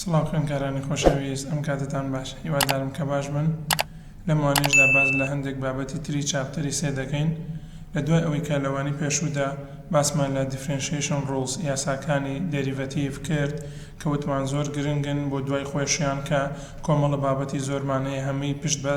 سڵاو خوێنکارانی خۆشەویست ئەم کاتتان باش هیوادارم کە باش بن لەم وانەیەشدا باس لە هەندێک بابەتی تری چاپتەری سێ دەکەین لە دوای ئەوەی کە لە وانەی پێشوودا باسمان لە Differentiation Rules یاساکانی دێریڤەتیڤ کرد کە وتمان زۆر گرنگن بۆ دوای خۆیشیان کە کۆمەڵە بابەتی زۆرمان هەیە هەمووی پشت بە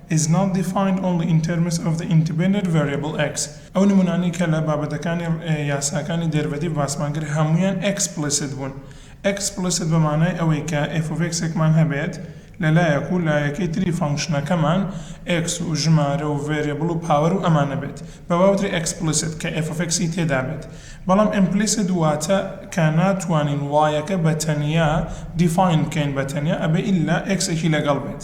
is not defined only in terms of the independent variable X ئەو نمونانەی کە لە بابەتەکانی یاساکانی دێرڤەتیڤ باسمان کرد هەموویان ئێکسپلیسیت بوون ئێکسپلیسیت بە مانای ئەوەی کە f of x ێکمان هەبێت لە لایەک و لایەکەی تری فەنکشنەکەمان X و ژمارە و ڤەریبڵ و پاوەر و ئەمانە بێت بە وا وترێ ئێکسپلیسیت کە f of x ی تێدا بێت بەڵام ئیمپلیسیت واتە کە ناتوانین y ەکە بە تەنیا دیفاین بکەین بە تەنیا ئەبێ ئیلا x ێکی لەگەڵ بێت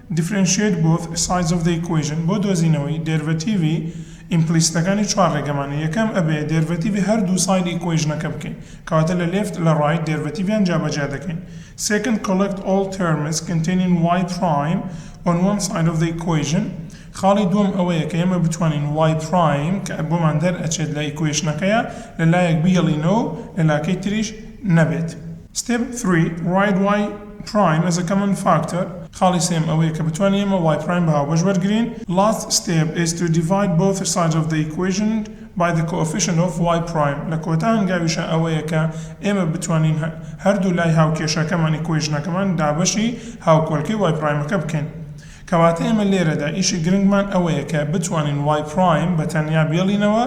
Differentiate both sides of the equation بۆ دۆزینەوەی دێرڤەتیڤی ئیمپلیسیتەکانی چوار ڕێگەمان هەیە، یەکەم، ئەبێ دێرڤەتیڤی هەردوو سایدی ئیکوەیژنەکە بکەین، کەواتە لە لێفت لە ڕایت دێرڤەتیڤیان جابەجیا دەکەین. Second، Collect all terms containing y پرایم on one side of the equation خاڵی دووەم ئەوەیە کە ئێمە بتوانین y پرایم کە بۆمان دەرئەچێت لە ئیکوەیشنەکەیە لە لایەک بهێڵینەوە و لە لاکەی تریش نەبێت. Step 3، Write y. پرایم ئەز ئە کەمن فاکتەر، خاڵی سێیەم ئەوەیە کە بتوانین ئێمە وای پرایم بە هاوبەش وەرگرین، لاست ستێپ ئیز تو دیڤاید بۆث سایدز ئۆف دە ئیکوەیژن بای دە کۆئۆفیشنت ئۆف وای پرایم، لە کۆتا هەنگاویشە ئەوەیە کە ئێمە بتوانین هەردوو لای هاوکێشەکەمان، ئیکوەیژنەکەمان، دابەشی هاوکۆلکەی وای پرایمەکە بکەین. کەواتە ئێمە لێرەدا ئیشی گرنگمان ئەوەیە کە بتوانین وای پرایم بە تەنیا بێڵینەوە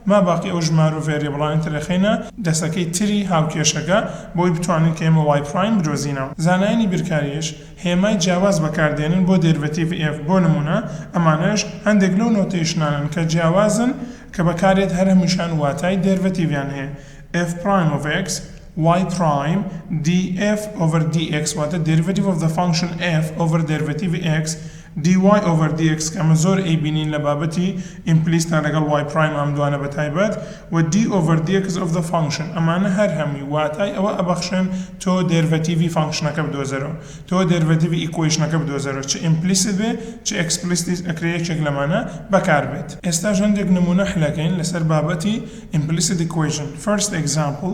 ماباقی ئەو ژمارە و ڤێریبڵانەی تر دەخەینە دەستەکەی تری هاوکێشەکە بۆی بتوانین کە ئێمە وای پڕایم بدۆزینەوە. زانایانی بیرکاریش هێمای جیاواز بەکاردێنن بۆ دێرڤەتیڤی ئێف، بۆ نموونە ئەمانەش هەندێک لەو نۆتەیشنانەن کە جیاوازن کە بەکاردێت هەر هەمووشیان واتای دێرڤەتیڤیان هەیە، ئێف پڕایم ئۆف ئێکس، وای پڕایم، دی ئێف ئۆڤەر دی ئێکس واتە دێرڤەتیڤ ئۆف دە فانکشن ئێف ئۆڤەر دێرڤەتیڤی ئێکس، dy over dx کە ئەمە زۆر ئەیبینین لە بابەتی ئیمپلیستە لەگەڵ وای پرایم ئەم دوانە بە تایبەت و d over dx of the function ئەمانە هەر هەمووی واتای ئەوە ئەبەخشن تۆ دێرڤەتیڤی فانکشنەکە بدۆزەرەوە تۆ دێرڤەتیڤی ئیکوەیشنەکە بدۆزەرەوە چ ئیمپلیست بێ چ ئێکسپلیسیت ئەکرێ یەکێک لەمانە بەکار بێت. ئێستاش هەندێک نموونە حلەکەین لەسەر بابەتی ئیمپلیسیت ئیکوەیشن First example،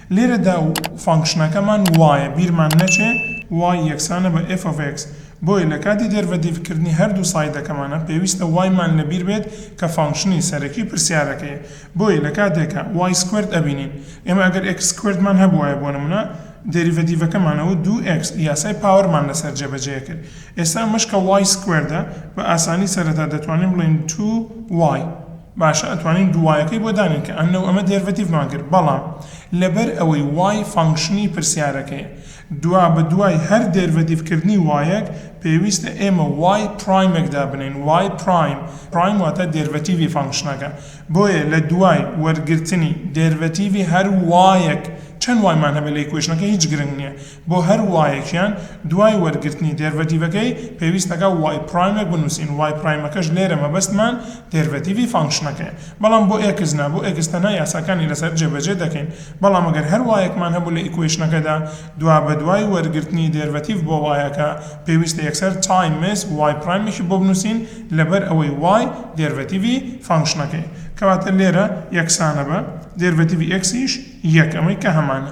لێرەدا و فانکشنەکەمان وایە بیرمان نەچێ y یەکسانە بە f of x، بۆیە لە کاتی دێرڤەتیڤکردنی هەردوو سایدەکەمانە پێویستە y مان لە بیر بێت کە فانکشنی سەرەکی پرسیارەکەیە، بۆیە لە کاتێکا y سکوێرد ئەبینین ئێمە ئەگەر x سکوێردمان هەبوایە بۆ نمونە دێریڤەتیڤەکەمانە و دوو x یاسای پاوەرمان لەسەر جێبەجێ ئەکرد ئێستا ئەمەش کە y سکوێردە بە ئاسانی سەرەتا دەتوانین بڵێین 2 y. باشە ئەتوانین دووایەکەی بۆ دانێن کە ئەن لەو ئەمە دێرڤەتیڤمان کرد بەڵام لەبەر ئەوەی وای فانکشنی پرسیارەکەیە دوا بە دوای هەر دێرڤەتیڤ کردنی وایەک پێویستە ئێمە وای پرایمێک دابنێین وای پرایم پرایم واتە دێرڤەتیڤی فانکشنەکە بۆیە لە دوای وەرگرتنی دێرڤەتیڤی هەر وایەک چەن وایمان هەبێت لە ئیکوەیشنەکە هیچ گرنگ نیە بۆ هەر وایەکیان دوای وەرگرتنی دێرڤەتیڤەکەی پێویست ئەکا وای پرایمێک بنووسین وای پرایمەکەش لێرە مەبەستمان دێرڤەتیڤی فانکشنەکەیە بەڵام بۆ ئێکس نا بۆ ئێکس تەنها یاساکانی لەسەر جێبەجێ دەکەین بەڵام گەر هەر وایەکمان هەبوو لە ئیکوەیشنەکەدا دوابەدوای وەرگرتنی دێرڤەتیڤ بۆ وایەکە پێویستە یەکسەر تایمس وای پرایمێکی بۆ بنووسین لەبەر ئەوەی وای دێرڤەتیڤی فانکشنەکەیە کەواتە لێرە یەکسانە بە دێرڤەتیڤی ئێکسیش یەک ئەمەی کە هەمانە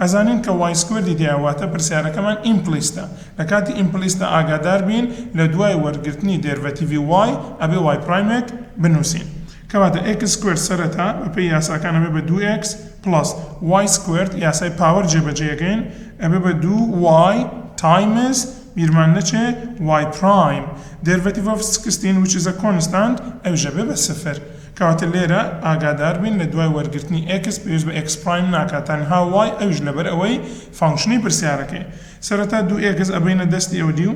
ئەزانین کە وای سکوێردی تیایە واتە پرسیارەکەمان ئیمپلیستە لە کاتی ئیمپلیستە ئاگادار بین لە دوای وەرگرتنی دێرڤەتیڤی وای ئەبێ وای پرایمێک بنوسین کەواتە ئێکس سکوێرد سەرەتا بە پێی یاساکان ئەبێ بە دوو ئێکس پڵەس وای سکوێرد یاسای پاوەر جێ بە جێ ئەکەین ئەبێ بە دوو وای تایمز بیرمان نەچێ وای پرایم دێرڤەتیڤ ئۆف سکستین ویچ ئیز ئە کۆنستانت ئەویش ئەبێ بە سفر کەواتە لێرە ئاگادار بین لە دوای وەرگرتنی ئێکس پێویست بە ئێکس پڕایم ناکات تەنها وای ئەویش لەبەر ئەوەی فانکشنی پرسیارەکەی سەرەتا دوو ئێکس ئەبەینە دەستی ئەو دیو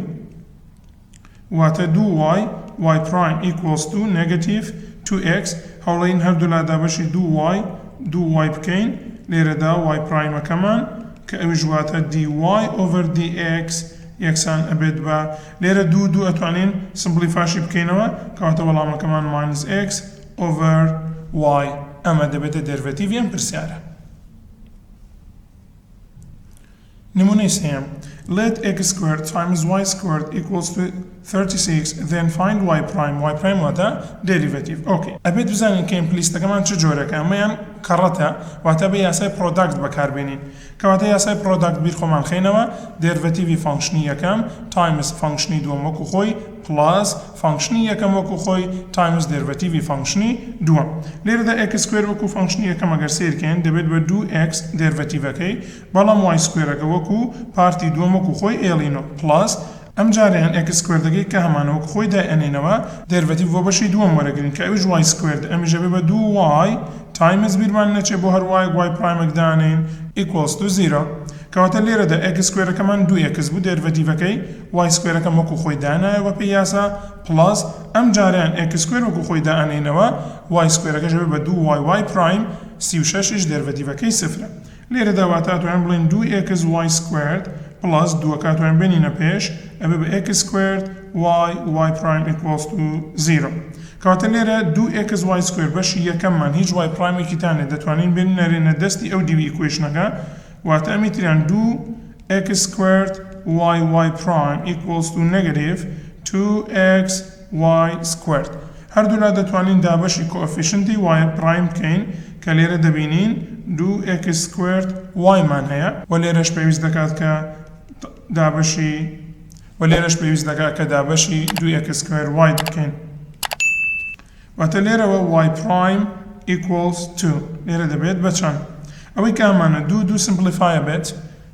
واتە دوو وای وای پڕایم ئیکوڵس تو نێگەتیڤ تو ئێکس هەوڵەین هەردوولا دابەشی دوو وای دوو وای بکەین لێرەدا وای پڕایمەکەمان کە ئەویش واتە دی وای ئۆڤەر دی ئێکس یەکسان ئەبێت بە، لێرە دوو و دوو ئەتوانین سمپڵیفاشی بکەینەوە، کەواتە وەڵامەکەمان ماینس ئێکس ئۆڤەر وای ئەمە دەبێتە دێرڤەتیڤی ئەم پرسیارە. نمونەی سێیەم، Let x squared times y squared equals to ثیرتی سیکس ذێن فایند وای پرایم وای پرایم واتە دێریڤەتیڤ ئۆکەی ئەبێت بزانین کە ئیمپلیستەکەمان چ جۆرێکە ئەمەیان کەڕەتە واتە بێ یاسای پڕۆداکت بەکار بێنین کەواتە یاسای پڕۆداکت بیر خۆمان خەینەوە دێرڤەتیڤی فانکشنی یەکەم تایمس فانکشنی دووەم وەکو خۆی پڵاس فانکشنی یەکەم وەکو خۆی تایمس دێرڤەتیڤی فانکشنی دووەم لێرەدا ئێکس سکوێر وەکو فانکشنی یەکەم ئەگەر سەیر کەین دەبێت بە دوو ئێکس دێرڤەتیڤەکەی بەڵام وای سکوێرەکە وەکو پارتی دووەم وەکو خۆی ئێڵی نۆ پڵاس ئەم جارەیان ئێکس سکوێردەکەی کە هەمانە وەک خۆی دای ئەنێنەوە. دێرڤەتیڤ بۆ بەشی دووەم وەرەگرین کە ئەویش وای سکوێرد ئەمیش ئەبێ بە دوو وای تایمز بیرمان نەچێ بۆ هەر وایەک وای پرایمەک دانێین ئیکوەڵس تو زیرە کەواتە لێرەدا ئێکس سکوێرەکەمان دوو ئێکس بوو دێرڤەتیڤەکەی وای سکوێرەکەم وەکو خۆی دانایەوە بە پێی یاسا پڵەس ئەم جارەیان ئێکس سکوێر وەکو خۆی دا ئەنێینەوە وای سکوێرەکەش ئەبێ بە دوو وای وای پرایم سی و شەش یش دێرڤەتیڤەکەی سفرە لێرەدا واتە ئەتوانین بڵێین دوو ئێکس وای سکوێرد پڵەس دووەکە ئەتوانین بێنینە پێش ئەبێ بە ئێکس سکوێرد وای وای پڕایم ئیکوڵس تو زیرۆ کەواتە لێرە دوو ئێکس وای سکوێرد بەشی یەکەممان هیچ وای پڕایمێکی تا نیە دەتوانین بێنینەرێنە دەستی ئەو دیوی ئیکوەیشنەکە واتە ئەمی تریان دوو ئێکس سکوێرد وای وای پڕایم ئیکوڵس تو نێگەتیڤ تو ئێکس وای سکوێرد. هەردوولا دەتوانین دابەشی کۆئەفیشنتی وای پڕایم بکەین کە لێرە دەبینین دوو ئێکس سکوێرد وای مان هەیە و لێرەش پێویست دەکات کە دابەشی و لێرەش پێویست دەکات کە دابەشی دوو ئێکس سکوێرد وای بکەین. واتە لێرەوە وای پڕایم ئیکوڵس تو لێرە دەبێت بە چەند؟ ئەوەی کە هەمانە دوو دوو سمپڵیفایە بێت،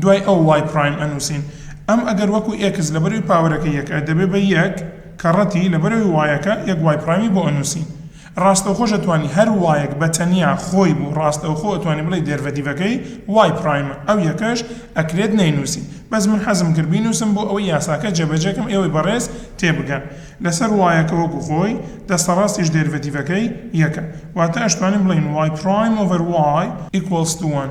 دوای ئەو وای پرایم ئەنووسین. ئەم ئەگەر وەکو ئێکس لەبەروی پاوەرەکەی یەکە دەبێ بە یەک، کەڕەتی، لەبەرەوی وایەکە یەک وای پرایمی بۆ ئەنووسین. ڕاستەوخۆش ئەتوانی هەر وایەک بە تەنیا خۆی بوو ڕاستەوخۆ ئەتوانی بڵێی دێرڤەتیڤەکەی وای پرایمە ئەو یەکەش ئەکرێت نەینووسی بەس من حەزم کرد بینووسم بۆ ئەوەی یاساکە جێبەجێ کەم ئێوەی بەڕێز تێبگەن لەسەر وایەکە وەکو خۆی دەستەڕاستیش دێرڤەتیڤەکەی یەکە واتە ئەشتوانین بڵێین وای پرایم ئۆڤەر وای ئیکوڵس تو وەن.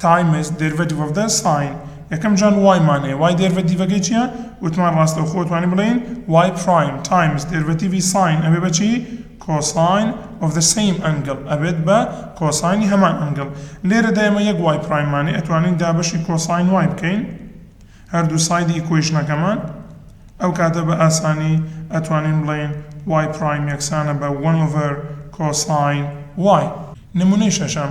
تایمز، دێرڤەتیڤ ئۆف دە ساین، یەکەم جار وای مان هەیە، وای دێرڤەتیڤەکەی چییە؟ وتمان ڕاستەوخۆ ئەتوانین بڵێین وای پڕایم تایمز دێرڤەتیڤی ساین ئەبێ بە چی؟ کۆساین ئۆف دە سەیم ئەنگڵ، ئەبێت بە کۆساینی هەمان ئەنگڵ. لێرەدا ئێمە یەک وای پڕایممان هەیە، ئەتوانین دابەشی کۆساین وای بکەین هەردوو سایدی ئیکوەیشنەکەمان، ئەو کاتە بە ئاسانی ئەتوانین بڵێین وای پڕایم یەکسانە بە وەن ئۆڤەر کۆساین وای. نموونەی شەشەم،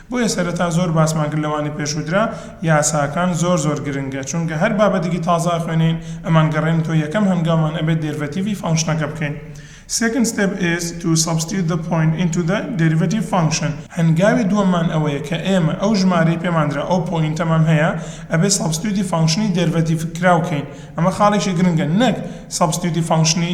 بۆیە سەرەتا زۆر باسمان کرد لەوانی پێشووترا یاساکان زۆر زۆر گرنگە چونکە هەر بابەتێکی تازە ئەخوێنین ئەمان گەڕێنتەوە یەکەم هەنگاومان ئەبێت دێرڤەتیڤی فانکشنەکە بکەین Second step is to substitute the point into the derivative function هەنگاوی دووەممان ئەوەیە کە ئێمە ئەو ژمارەی پێماندرا ئەو پۆینتەمان هەیە ئەبێت سەبستیوتی فانکشنی دێرڤەتیڤکراو کەین ئەمە خاڵێکی گرنگە نەک سەبستیوتی فانکشنی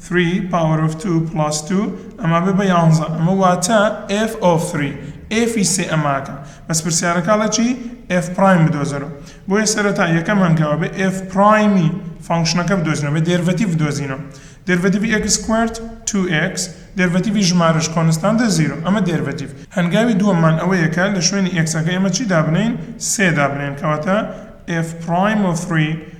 3 power of 2 plus 2 ئەمە ئەبێ بە یانزە ئەمە واتە f of 3 f ی سێ ئەماکە بەس پرسیارەکە ئەڵێ چی f prime بدۆزەرەوە بۆیە سەرەتا یەکەم هەنگاو ئەبێ f prime ی فەنکشنەکە بدۆزینەوە ئەبێ دێرڤەتیڤ بدۆزینەوە دێرڤەتیڤی x squared 2x دێرڤەتیڤی ژمارەش کۆنستانتە زیرۆ ئەمە دێرڤەتیڤ هەنگاوی دووەممان ئەوەیە کە لە شوێنی x ەکەی ئەمە چی دابنێین سێ دابنێین کەواتە f prime of 3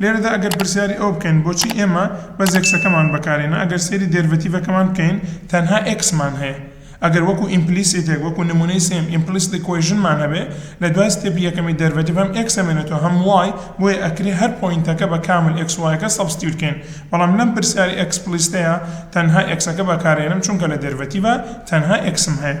لێرەدا ئەگەر پرسیاری ئەوە بکەین بۆچی ئێمە بەس ئێکسەکەمان بەکارهێنا ئەگەر سەیری دێرڤەتیڤەکەمان بکەین تەنها ئێکسمان هەیە ئەگەر وەکو ئیمپلیسیتێک وەکو نمونەی سێیەم ئیمپلیست ئیکوەیژنمان هەبێ لە دوای ستێپی یەکەمی دێرڤەتیڤ هەم ئێکس ئەمێنێتەوە هەم وای بۆیە ئەکرێ هەر پۆینتەکە بە کامل ئێکس وایەکە سەبستیوت کەین بەڵام لەم پرسیاری ئێکسپلیستەیا تەنها ئێکسەکە بەکارئێنم چونکە لە دێرڤەتیڤا تەنها ئێکسم هەیە.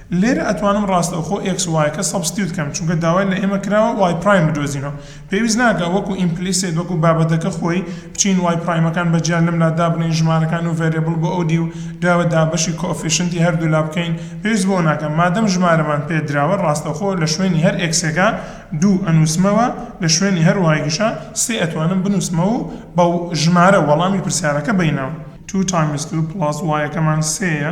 لێرە ئەتوانم ڕاستەوخۆ ئێکس وایەکە سەبستیوت کەم چونکە داوای لە ئێمە کراوە وای پرایم بدۆزینەوە پێویست ناکا وەکو ئیمپلیسێت وەکو بابەتەکە خۆی بچین وای پرایمەکان بە جیا لەملا دابنێین ژمارەکان و ڤەریبڵ بۆ ئەو دیو راوە دابەشی کۆئۆفیشنتی هەردوولا بکەین پێویست بەوە ناکا مادەم ژمارەمان پێ دراوە ڕاستەوخۆ لە شوێنی هەر ئێکسێکا دوو ئەنووسمەوە لە شوێنی هەر وایەکیشا سێ ئەتوانم بنووسمەوە و بە ژمارە وەڵامی پرسیارەکە بەینەوە. Two times Two plus وایەکەمان سێیە.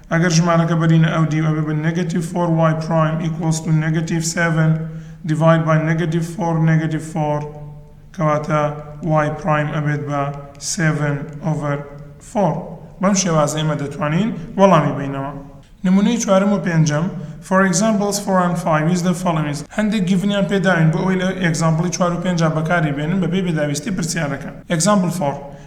ئەگەر ژمارەکە بەرینە ئەو دیو ئەبێ بە نێگەتیڤ فۆر وای پڕایم ئیکوڵس تو نێگەتیڤ سێڤن دیڤاید بای نێگەتیڤ فۆر نێگەتیڤ فۆر کەواتە وای پڕایم ئەبێت بە سێڤن ئۆڤەر فۆر بەم شێوازە ئێمە دەتوانین وەڵامی بەینەوە. نمونەی چوارەم و پێنجەم For examples four and five use the following هەندێک گیڤن یان پێداوین بۆ ئەوەی لە ئێگزامپڵی چوار و پێنجا بەکاری بێنن بەپێی پێداویستی پرسیارەکە Example four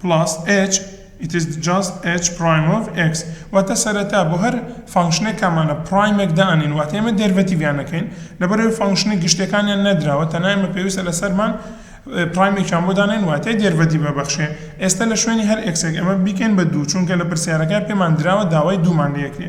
پڵاس ئێچ It is just h prime of x واتە سەرەتا بۆ هەر فانکشنێک کامانە پڕایمێک دانێن واتە ئێمە دێرڤەتیڤیان ئەکەین لەبەرئەوەی فانکشنە گشتیەکانیان نەدراوە تەنها ئێمە پێویستە لەسەرمان پڕایمێکیان بۆ دانێن واتە دێرڤەتیڤ ئەبەخشێ ئێستا لە شوێنی هەر ئێکسێک ئەمە بیکەین بە دوو چونکە لە پرسیارەکە پێمان دراوە داوای دوومان لێکرێ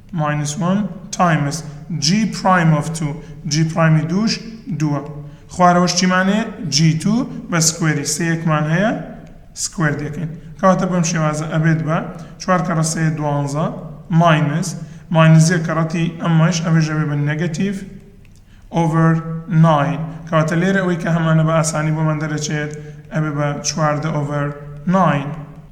ماینس وەن تایمس جی پرایم ئۆف تو، جی پرایمی دووش دووە. خوارەوەش چیمان هەیە، جی تو بە سکوێری سێیەکمان هەیە، سکوێر دەکەین. کەواتە بەم شێوازە ئەبێت بە، چوار کەڕە سێ دوانزە، ماینس، ماینس یەک کەڕەتی ئەمەش ئەمەش ئەبێت بە نێگەتیڤ، ئۆڤەر ناین کەواتە لێرە ئەوەی کە هەمانە بە ئاسانی بۆمان دەرەچێت ئەبێ بە چواردە ئۆڤەر ناین.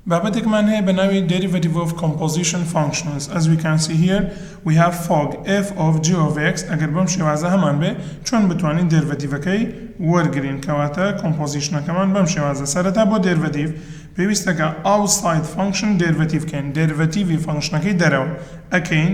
بابەتێکمان هەیە بە ناوی Derivative of Composition Functions As we can see here we have fog f of g of x ئەگەر بەم شێوازە هەمان بێ چۆن بتوانین دێرڤەتیڤەکەی وەرگرین کەواتە کۆمپۆزیشنەکەمان بەم شێوازە سەرەتا بۆ دێرڤەتیڤ پێویستە کە ئاوساید فانکشن دێرڤەتیڤ کەین دێرڤەتیڤی فانکشنەکەی دەرەوە ئەکەین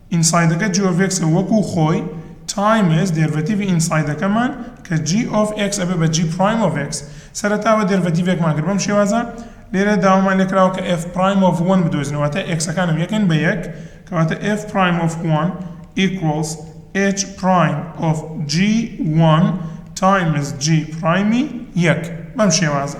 ئینسایدەکە جی ئۆف ئێکسە وەکو خۆی تایمز دێرڤەتیڤی ئینسایدەکەمان کە جی ئۆف ئێکس ئەبێ بە جی پڕایم ئۆف ئێکس سەرەتاوە دێرڤەتیڤێکمان کرد بەم شێوازە لێرە داوامان لێکراوە کە ئێف پڕایم ئۆف وەن بدۆزینەوە واتە ئێکسەکانم یەکەن بە یەک کەواتە ئێف پڕایم ئۆف وەن ئیکوڵس ئێچ پڕایم ئۆف جی وەن تایمز جی پڕایمی یەک بەم شێوازە.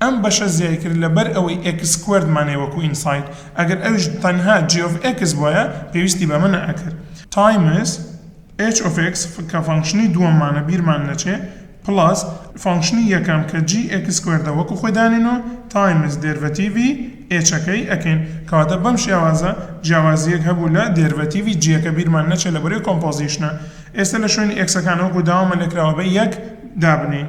ئەم بەشە زیای کرد لەبەر ئەوەی ئێکس سکوێردمان هەیە وەکو ئینساید ئەگەر ئەویش تەنها جی ئۆف ئێکس بوایە پێویستی بەمە نەئەکرد تایمز ئێچ ئۆف ئێکس کە فەنکشنی دووەممانە بیرمان نەچێ پڵەس فەنکشنی یەکەم کە جی ئێکس سکوێردە وەکو خۆی دانینۆ تایمز دێرڤەتیڤی ئێچەکەی ئەکەین کەواتە بەم شێوازە جیاوازیەک هەبوو لە دێرڤەتیڤی جیەکە بیرمان نەچێ لەبەرەی کۆمپۆزیشنە ئێستە لە شوێنی ئێکسەکان وەکو داوامە لێکراوە بە یەک دابنێین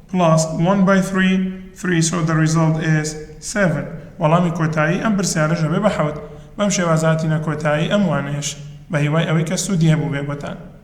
Plus one by three three so the result is seven وەڵامی کۆتایی ئەم پرسیارەش ئەبێ بە حەوت. بەم شێوازە هاتینە کۆتایی ئەم وانەیەش. بە هیوای ئەوەی کە سوودی هەبووبێ بۆتان.